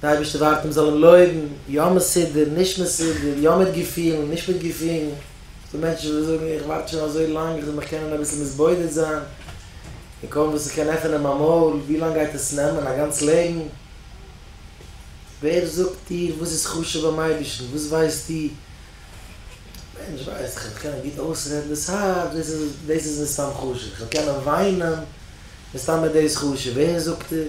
די אייבערשטער ווארט אים זאל אים לויבן, יא מסודר, נישט מסודר, יא מיט געפילן, נישט מיט געפילן, ס'דא מענטשן וואס זאגן איך ווארט שוין אזוי לאנג איך זאל מיך קענען אביסל מתבודד זיין, און קוים וואס איך קען עפענען מיין מויל, ווי לאנג גייט עס נעמען, א גאנץ לעבן? ווער זאגט דיר וואס איז חשוב ביים אייבערשטן, וואס ווייסטו? א מענטש ווייסט איך וועל קענען גוט אויסרעדן דאס הארץ, דאס איז דאס איז מסתם חשוב, איך וועל קענען וויינען, מסתם איז דאס חשוב, ווער זאגט דיר?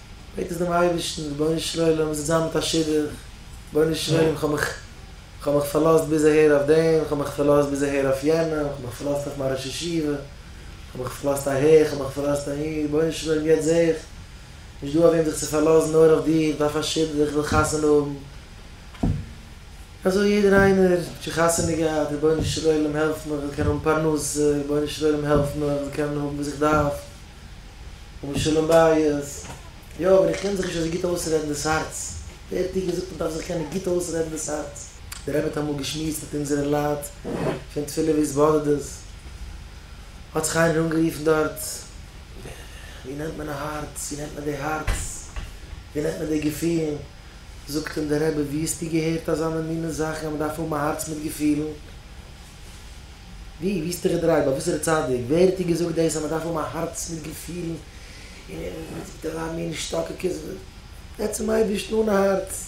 בעט עס דעם אייבערשטן, רבונו של עולם, מיר זענען זיין מיט א שידוך, רבונו של עולם, כ'האב מיך, כ'האב מיך פארלאזט ביז אהער אויף דעם, כ'האב מיך פארלאזט ביז אהער אויף יענעם, כ'האב מיך פארלאזט אויף מיין ראש ישיבה, כ'האב מיך פארלאזט אהער, כ'האב מיך פארלאזט אהין, רבונו של עולם, יעצט זע איך, נישט דא אויף וועם זיך צו פארלאזן, נאר אויף דיר, כ'דארף א שידוך, כ'וויל חתונה האבן. אזוי יעדער איינער, האט שוין חתונה געהאט, רבונו של עולם, העלף מיך, כ'וויל קענען האבן פרנסה, רבונו של עולם, העלף מיך, כ'וויל קענען האבן וואס איך דארף. און שלום בית, יא אבער איך קען זיך נישט אזוי גוט אויסרעדן דאס הארץ, ווער האט דיר געזאגט מען דארף זיך קענען גוט אויסרעדן דאס הארץ? דער רבי האט אמאל געשמועסט מיט אונזערע לייט פון תפילה והתבודדות, האט זיך איינער אנגערופן דארט, ווי נעמט מען א הארץ, ווי נעמט מען די הארץ, ווי נעמט מען די געפילן, זאגט אים דער רבי ווי האסטו געהערט אזאנע מינע זאכן אז מען דארף האבן א הארץ מיט געפילן? ווי? ווי איז תרדריי? ביי וואסערע צדיק? ווער האט דיר געזאגט דאס אז מען דארף האבן א הארץ מיט געפילן און מיט ווייטאמינען שטאקעקעס? עצם אייבערשטן אן הארץ.